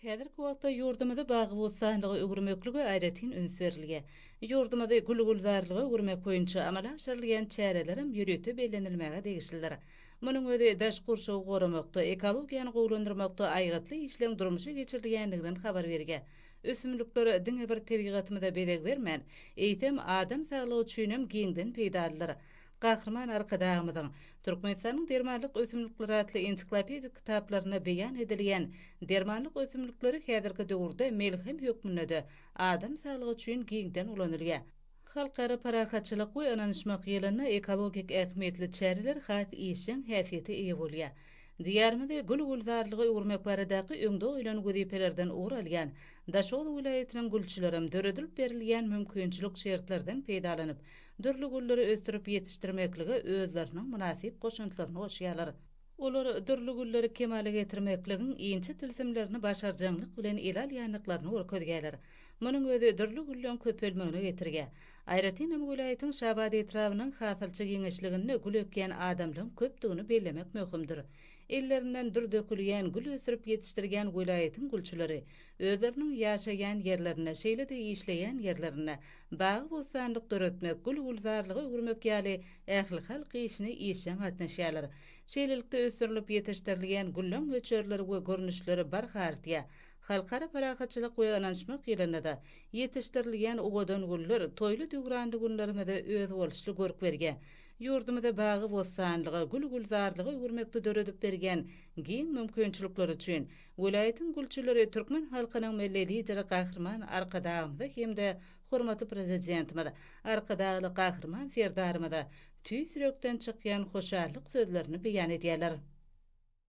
Häzirki wagtda ýurdumyzy bagy-bossanlyga öwürmeklige aýratyn üns berilýär. Ýurdumyzy gül-gülzarlyga öwürmek boýunça amala aşyrylýan çärelerem ýörite bellenilmäge degişlidir. Munuň özi daş gurşawy goramakda, ekologiýany gowulandyrmakda aýgytly işleň durmuşa geçirilýändiginden habar berýär. Ösümlikler diňe bir tebigatymyza bezeg bermän, eýsem, adam saglygy üçinem giňden peýdalydyr. Gahryman Arkadagymyzyň Türkmenistanyň dermanlyk ösümlikleri atly ensiklopedik kitaplarynda beýan edilýän dermanlyk ösümlikleri häzirki döwürde melhem hökmünde-de adam saglygy üçin giňden ulanylýar. Halkara parahatçylyk we ynanyşmak ýylynda ekologik ähmiýetli çäreler has işjeň häsiýete eýe bolýar. Diýarymyzy gül-gülzarlyga öwürmek baradaky öňde goýlan wezipelerden ugur alýan Daşoguz welaýatynyň gülçülerem döredilip berilýän mümkinçilik şertlerden peýdalanyp, dürli gülleri ösdürip ýetişdirmeklige özleriniň mynasyp goşantlaryny goşýarlar. Olar dürli gülleri kemala getirmekligiň inçe tilsimlerini başarjaňlyk bilen ele alýandyklaryny görkezýärler. Munuň özi dürli gülleň köpelmegine getirýär. Aýratyn hem welaýatyň Şabat etrabynyň hasylçy giňişliginde gül ekýän adamlaryň köpdügini bellemek möhümdir. Ellerinden dür dökülýän gül ösdürip ýetişdirýän welaýatyň gülçüleri Özleriniň ýaşaýan ýerlerinde, şeýle-de işleýän ýerlerinde bagy-bossanlyk döretmek, gül-gülzarlyga öwürmek ýaly ählihalk işine işjeň gatnaşýarlar. Şeýlelikde, ösdürilip ýetişdirilýän güllüň möçberleri we görnüşleri barha artýar. Halkara parahatçylyk we ynanyşmak ýylynda-da ýetişdirilýän owadan güller toýly-döwranly günlerimize özboluşly görk berýär. Ýurdumyzy bagy-bossanlyga, gül-gülzarlyga öwürmekde döredip berýän giň mümkinçilikleri üçin Welaýatyň gülçüleri türkmen halkynyň Milli Lideri Gahryman Arkadagymyza hem-de hormatly Prezidentimiz Arkadagly Gahryman Serdarymyza tüýs ýürekden çykýan hoşallyk sözlerini beýan edýärler.